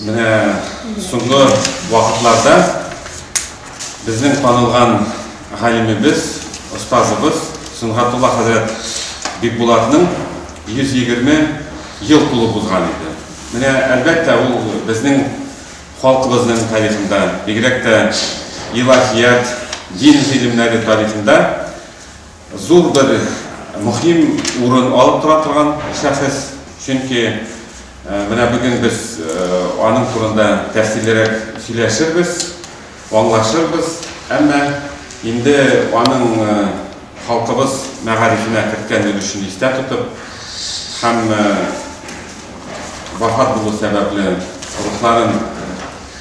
Менә соңгы вакытларда безнең танылган галимебез, остазыбыз Сөнгатулла хәзрәт Бикбулатның 120 ел тулып узган иде. Менә, әлбәттә, ул безнең халкыбызның тарихында, бигрәк тә илаһият, дин гыйлемнәре тарихында, Зур бер мөһим урын алып тора торган шәхес, чөнки менә бүген без аның турында тәфсиллерәк сөйләшербез, аңлашырбыз, әмма инде аның халкыбыз мәгарифенә керткән өлешен истә тотып һәм вафат булу сәбәпле рухларын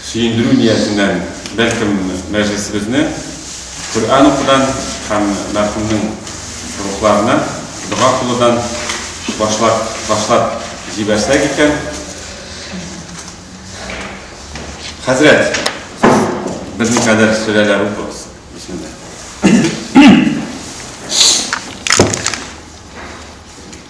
Сөендерү ниятеннән, бәлкем, мәҗлесебезне Коръән укудан һәм мәрхүмнең рухларына дога кылудан башлап башлап җибәрсәк икән. Хәзрәт, сез берникадәр сөләләр укыгыз. Бисмилла.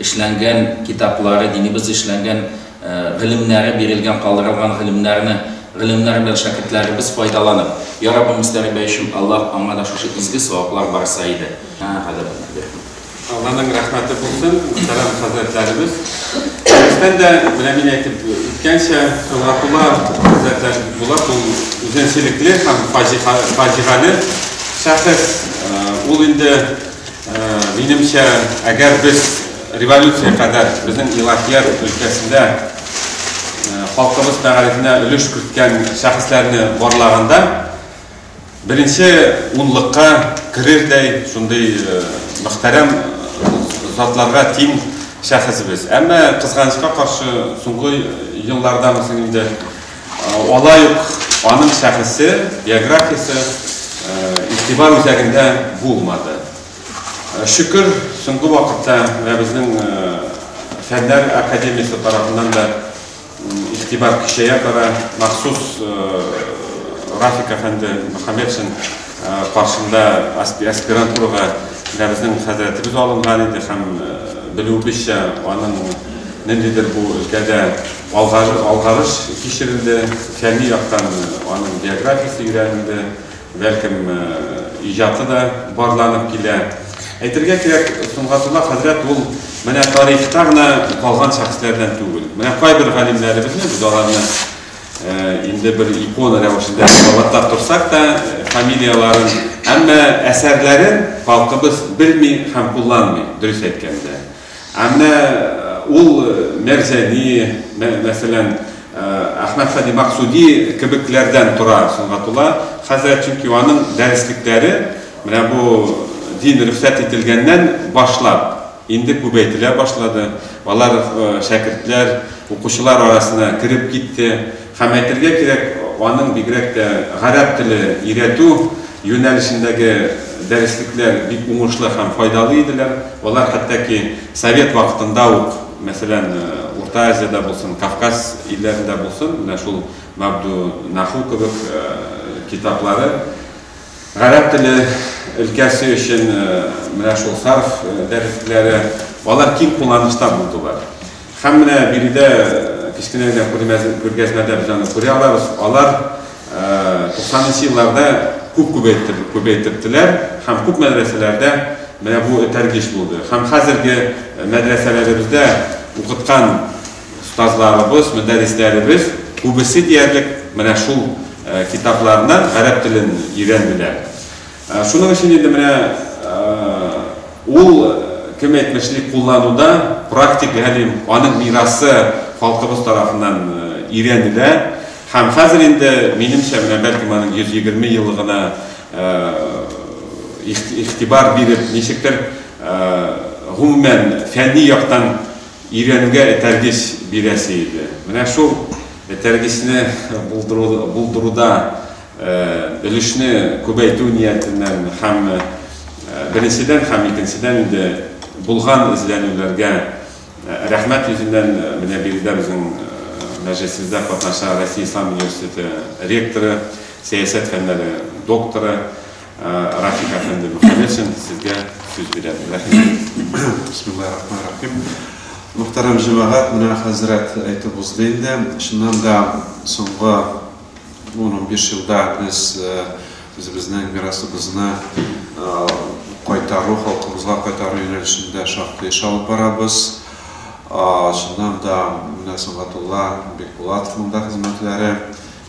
эшләнгән китаплары, динебез эшләнгән гыйлемнәре, бирелгән, калдырылган гыйлемнәрне, гыйлемнәр белән шәкертләребез файдаланып, Я Раббым Мөстәрибә өчен, Аллаһ аңа да шушы изге саваплар барса иде. Гадәтне бир. Алланың рәхмәте булсын, мөхтәрәм хәзрәтләребез. Беренчедән дә, менә мин әйтеп үткәнчә, Сөнгатулла хәзрәтләр була бу үзенчәлекле һәм фаҗигале шәхес. Ул инде Минемчә, әгәр без революция кадәр безнең илаһият өлкәсендә халкыбыз мәгарифенә өлеш керткән шәхесләрне барлаганда, беренче унлыкка керердәй шундый мөхтәрәм затларга тиң шәхес без. Әмма, кызганычка каршы, соңгы еллардамы соң инде, Алай ук аның шәхесе, биографиясе игътибар үзәгендә булмады. Шөкер, соңгы вакытта менә безнең Фәннәр академиясе тарафыннан да игътибар көчәя бара. Махсус Рафик әфәнде Мөхәммәтшин каршында аспирантурага менә безнең хәзрәтебез алынган иде һәм, белүебезчә, аның ниндидер бу өлкәдә Алгарыш кичерелде, фәнни яктан аның биографиясе өйрәнелде, бәлкем, иҗаты да барланып килә. Әйтергә кирәк, Сөнгатулла хәзрәт ул менә тарихта гына калган шәхесләрдән түгел. Менә кайбер галимнәребезне, без аларны инде бер икона рәвешендә кабатлап торсак та, фамилияләрен, әмма әсәрләрен халкыбыз белми һәм кулланмый, дөрес әйткәндә. Ә менә ул Мәрзәни, мәсәлән, Әхмәт Сади Максуди кебекләрдән тора Сөнгатулла хәзрәт, чөнки аның дәреслекләре менә бу дин рөхсәт ителгәннән башлап инде күбәйтелә башлады, алар шәкертләр, укучылар арасына кереп китте. Һәм әйтергә кирәк, аның бигрәк тә гарәп теле өйрәтү юнәлешендәге дәреслекләр бик уңышлы һәм файдалы иделәр. Алар хәтта ки совет вакытында ук, мәсәлән, Урта Азиядә булсын, Кавказ илләрендә булсын, менә шул Мабдунаху кебек китаплары гарәп теле өлкәсе өчен, менә шул сарф дәреслекләре, алар киң кулланышта булдылар. Һәм менә биредә кечкенә генә күргәзмәдә без аны күрә алабыз, алар туксанынчы елларда күп күбәйттерделәр һәм күп мәдрәсәләрдә менә бу этәргеч булды. Һәм хәзерге мәдрәсәләребездә укыткан остазларыбыз, мөдәррисләребез күбесе диярлек менә шул китаплардан гарәп телен өйрәнделәр. Шуның өчен инде менә Ул кем әйтмешли куллануда практик галим, аның мирасы халкыбыз тарафыннан өйрәнелә һәм хәзер инде, минемчә, менә бәлкем аның 120 еллыгына игътибар биреп, ничектер гомумән фәнни яктан өйрәнүгә этәргеч бирәсе иде. Менә шул этәргечне булдыруда өлешне күбәйтү ниятеннән һәм, беренчедән һәм икенчедән инде, булган эзләнүләргә рәхмәт йөзеннән, менә биредә безнең мәҗлесебездә катнаша Россия Ислам университеты ректоры, сәясәт фәннәре докторы Рафик әфәнде Мөхәммәтшин, сезгә сүз бирәм. Рәхимегез. Бисмиллаһи рахмани рахим. Мөхтәрәм җәмәгать, менә хәзрәт әйтеп узды инде. Чыннан да, соңгы Бу унбиш елда без үзебезнең мирасыбызны кайтару, халкыбызга кайтару юнәлешендә шактый эш алып барабыз. Чыннан да, менә Сөнгатулла Бекбулатовның да хезмәтләре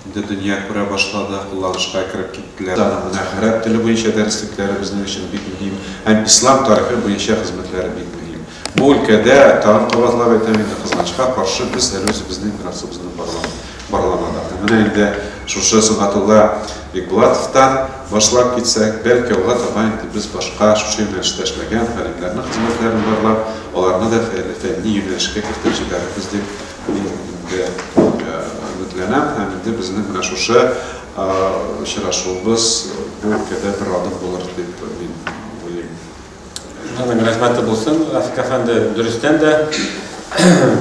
инде дөнья күрә башлады, кулланышка кереп киттеләр. Аның менә гарәп теле буенча дәреслекләре безнең өчен бик мөһим һәм ислам тарихы буенча хезмәтләре бик мөһим. Бу өлкәдә тагын кабатлап әйтәм инде, кызганычка каршы, без әле үзебезнең финансыбызны барламадык. Һәм менә инде шушы Сөнгатулла Бикбулатовтан башлап китсәк, бәлки алга таба инде без башка шушы юнәлештә эшләгән галимнәрнең хезмәтләрен барлап, аларны да фәнни юнәлешкә кертеп җибәрербез дип мин инде өметләнәм һәм инде безнең менә шушы очрашуыбыз бу өлкәдә бер адым булыр дип мин уйлыйм. Аның рәхмәте булсын, Рафик әфәнде, дөрестән дә,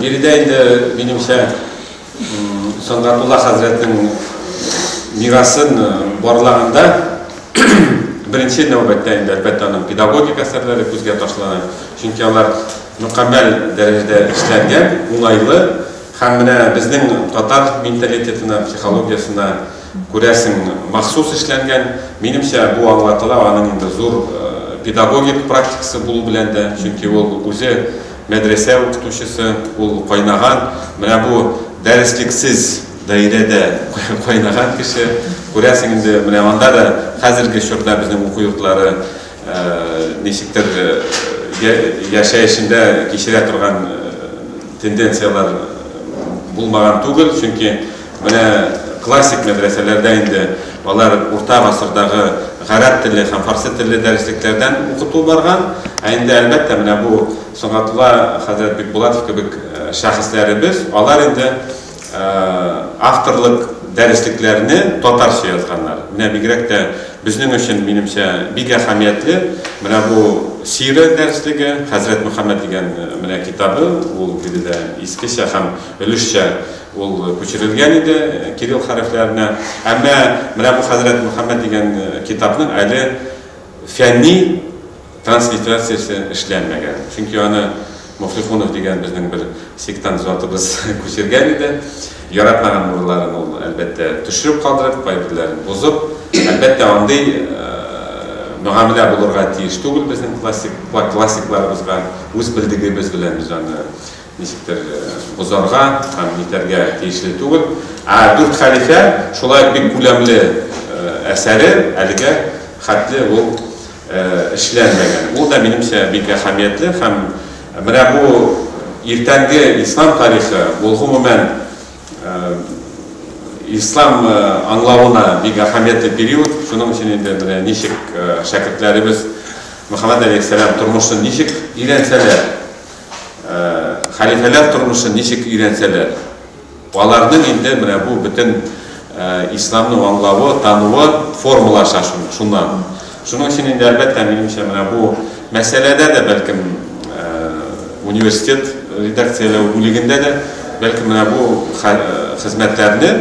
биредә инде, минемчә, Сөнгатулла хәзрәтнең мирасын э, барлаганда, беренче нәүбәттә инде, әлбәттә, аның педагогик әсәрләре күзгә ташлана. Чөнки алар мөкәммәл дәрәҗәдә эшләнгән, уңайлы һәм менә безнең татар менталитетына, психологиясенә Күрәсең, махсус эшләнгән. Минемчә, бу аңлатыла аның инде зур педагогик практикасы булу белән дә, чөнки ул үзе мәдрәсә укытучысы, ул кайнаган, менә бу дәреслексез даирәдә кайнаган кеше. Күрәсең инде, менә анда да хәзерге чорда безнең уку йортлары ничектер яшәешендә кичерә торган тенденцияләр булмаган түгел, чөнки Менә классик мәдрәсәләрдә инде алар урта гасырдагы гарәп теле һәм фарсы телле дәреслекләрдән укыту барган. Ә инде, әлбәттә, менә бу Сөнгатулла хәзрәт Бикбулатов кебек шәхесләребез, алар инде авторлык дәреслекләрне татарча язганнар. Менә бигрәк тә безнең өчен, минемчә, бик әһәмиятле менә бу сирә дәреслеге, Хәзрәт Мөхәммәт дигән менә китабы, ул биредә искечә һәм өлешчә Ул күчерелгән иде кирилл хәрефләренә. Әмма менә бу Хәзрәт Мөхәммәд дигән китапның әле фәнни транслитерациясе эшләнмәгән. Чөнки аны Муфлихунов дигән безнең бер сектант затыбыз күчергән иде. Яратмаган урларын ул, әлбәттә, төшереп калдырып, кайберләрен бозып. Әлбәттә, андый мөгамәлә булырга тиеш түгел безнең классик, классикларыбызга. Үз белдегебез белән без аны Ничектер бозарга һәм нитәргә тиешле түгел. Ә Дүрт хәлифә шулай ук бик күләмле әсәре әлегә хәтле ул эшләнмәгән. Ул да, минемчә, бик әһәмиятле һәм менә бу иртәнге ислам тарихы, ул, гомумән, ислам аңлавына бик әһәмиятле период. Шуның өчен инде менә ничек шәкертләребез Мөхәммәд галәйһиссәлам тормышын ничек өйрәнсәләр, хәлифәләр тормышын ничек өйрәнсәләр, аларның инде менә бу бөтен исламны аңлавы, тануы формалаша шуннан. Шуның өчен инде, әлбәттә, минемчә, менә бу мәсьәләдә дә, бәлкем, университет редакцияләү бүлегендә дә, бәлкем, менә бу хезмәтләрне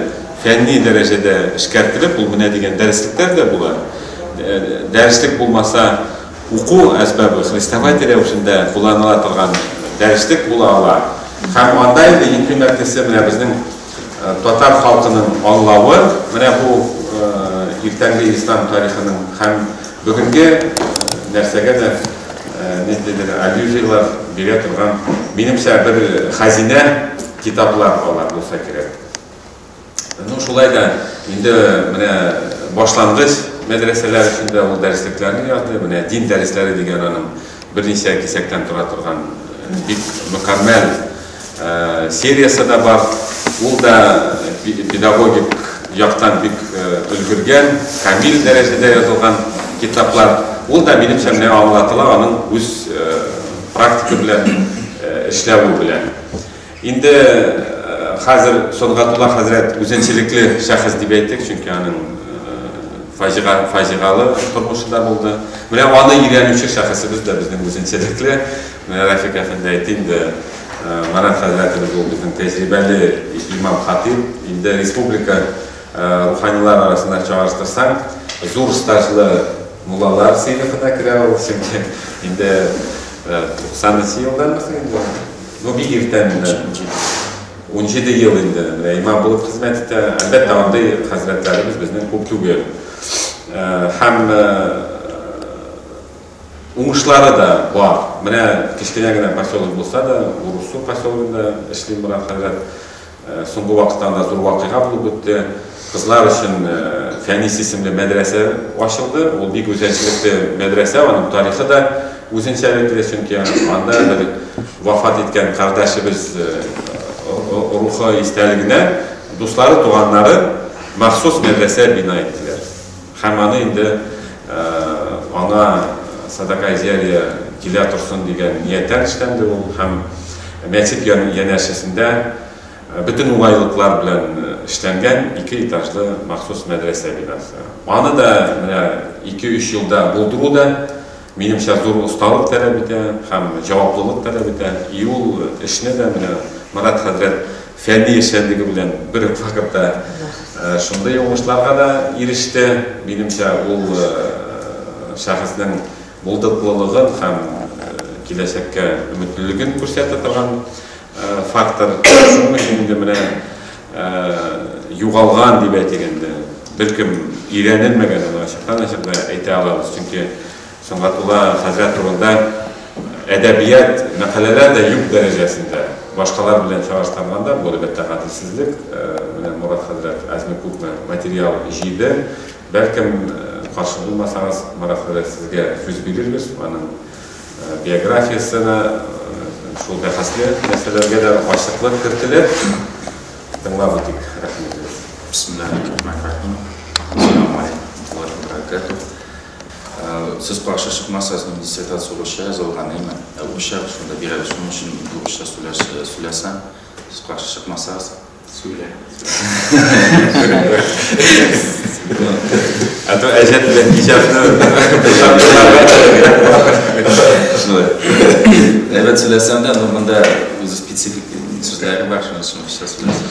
фәнни дәрәҗәдә эшкәртелеп, ул менә дигән дәреслектәр дә була. Дәреслек булмаса, Уку әсбабы хрестоматия рәвешендә кулланыла торган дәреслек була ала һәм анда инде иң кыйммәтлесе менә безнең татар халкының аңлавы менә бу иртәнге ислам тарихының һәм бүгенге нәрсәгә дә ниндидер аллюзияләр бирә торган, минемчә, бер хәзинә китаплар алар булса кирәк. Ну, шулай да, инде менә башлангыч мәдрәсәләр өчен дә ул дәреслекләрне язды. Менә дин дәресләре дигән аның берничә кисәктән тора торган э, бик мөкәммәл э, сериясе дә бар. Ул да педагогик яктан бик э, өлгергән, камил дәрәҗәдә язылган китаплар. Ул да минемчә менә аңлатыла аның үз практика белән эшләве белән. Инде хәзер Сөнгатулла хәзрәт үзенчәлекле шәхес дип әйтик, чөнки аның фаҗига, фаҗигалы тормышы да булды. Менә аны өйрәнүче шәхесебез дә безнең үзенчәлекле. Менә Рәфик әфәнде әйтте инде, Марат хәзрәтебез ул безнең тәҗрибәле имам хатыйп. Инде республика руханилар арасында чагыштырсаң, зур стажлы муллалар сыйныфына керә ул, чөнки инде 93 елдан инде. Ну, бик иртә менә, унҗиде ел инде менә имам булып хезмәт итә. Әлбәттә, андый хәзрәтләребез безнең күп түгел. Һәм уңышлары да бар. Менә кечкенә генә поселок булса да, Урусу поселогында эшли Мурат хәзрәт. Соңгы вакытта анда зур вакыйга булып үтте. Кызлар өчен Фәнис исемле мәдрәсә ачылды. Ул бик үзенчәлекле мәдрәсә, аның тарихы да үзенчәлекле, чөнки анда бер вафат иткән кардәшебез рухы истәлегенә дуслары, туганнары махсус мәдрәсә бина иттеләр. Һәм аны инде ана Садакаизяриә килә торсын дигән нияттән эшләнде ул һәм мәчет янәшәсендә бөтен уңайлыклар белән эшләнгән ике этажлы махсус мәдрәсә бинасы. Аны да менә ике-өч елда булдыру да Минемчә, зур осталык таләп итә һәм җаваплылык таләп итә. И ул эшне дә менә Марат хәзрәт фәнни эшчәнлеге белән бер үк вакытта шундый уңышларга да иреште. Минемчә, ул шәхеснең булдыклылыгын һәм киләчәккә өметлелеген күрсәтә торган фактор шуның өчен инде менә югалган дип әйтик инде беркем өйрәнелмәгән аны ачыктан ачык да әйтә алабыз чөнки сөнгатулла хәзрәт турында әдәбият мәкаләләр дә юк дәрәҗәсендә башкалар белән чагыштырганда бу әлбәттә гаделсезлек менә мурат хәзрәт әзме күпме материал җыйды бәлкем каршы булмасагыз мурат хәзрәт сезгә сүз бирербез аның Биографиясенә шул бәхәсле мәсьәләләргә дә ачыклык кертелә. Тыңлап үтик, рәхмәт. Бисмиллаһир-рахманир-рахим. Ассаламу алейкум ва рахматуллаһи Сез каршы чыкмасагыз, мин диссертация русча язылган, әйме? Ә русча шунда бирәбез, шуның өчен русча сөйләсәм, сез каршы чыкмасагыз. Сүлә. А то әҗәт белән иҗатны Әйбәт сөйләсәм дә, ну монда үзе специфик сүзләре бар, шуның өчен кыска сөйләсәм.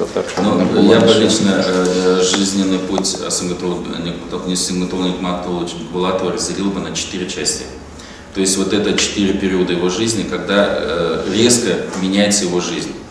Ну, я бы лично э, э, жизненный путь Симгатулник Матулович Булатова разделил бы на четыре части. То есть вот это четыре периода его жизни, когда э, резко меняется его жизнь.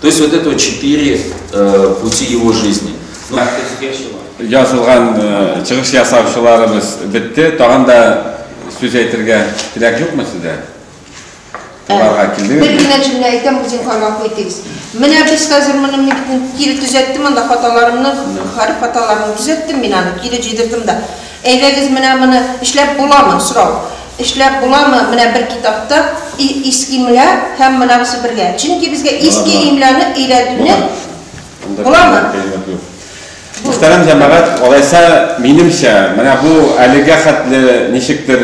То есть вот это четыре э, пути его жизни. Ну, Язылган э, чыгыш ясаучыларыбыз бетте. Тагын да сүз әйтергә теләк юкмы сездә? Аларга килдегез. Бер генә җөмлә әйтәм, үзең кайма куйтыгыз. Менә без хәзер моны мин кире төзәттем, анда хаталарымны, хәреф хаталарымны төзәттем мин аны, кире җыйдырдым да. Әйдәгез менә моны эшләп буламы? Сорау. Эшләп буламы менә бер китапта и иске имля һәм монагысы бергә? Чөнки безгә Була, иске була. имляны өйрәтүне Анда Буламы? кыйммәт, кыйммәт юк. Бу. Мөхтәрәм җәмәгать, алайса, минемчә, менә бу әлегә хәтле ничектер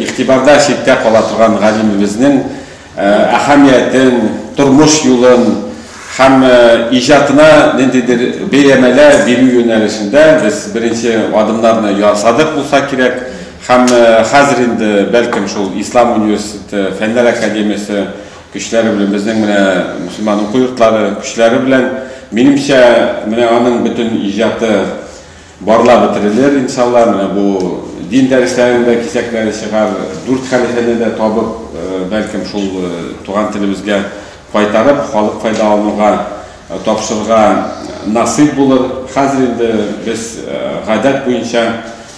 игътибарда читтә кала торган галимебезнең әһәмиятен, тормыш юлын һәм иҗатына ниндидер бәяләмәләр бирү юнәлешендә без беренче адымнарны ясадык булса кирәк һәм хәзер инде, бәлкем, шул Ислам университеты, Фәннәр академиясе көчләре белән, безнең менә мөселман уку йортлары көчләре белән, минемчә, менә аның бөтен иҗаты, Барла бетерелер, иншалла, менә бу дин дәресләренең дә кисәкләре чыгар, дүрт хәлифәне дә табып, бәлкем, шул туган телебезгә кайтарып, халык файдалануга тапшырырга насыйп булыр. Хәзер инде без гадәт буенча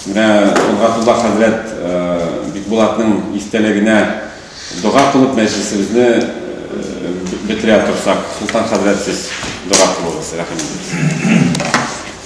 менә Нгатулла хәзрәт Бикбулатның истәлегенә дога кылып мәҗлесебезне бетерә торсак, Солтан хәзрәт, сез дога кылыгыз, рәхим итегез.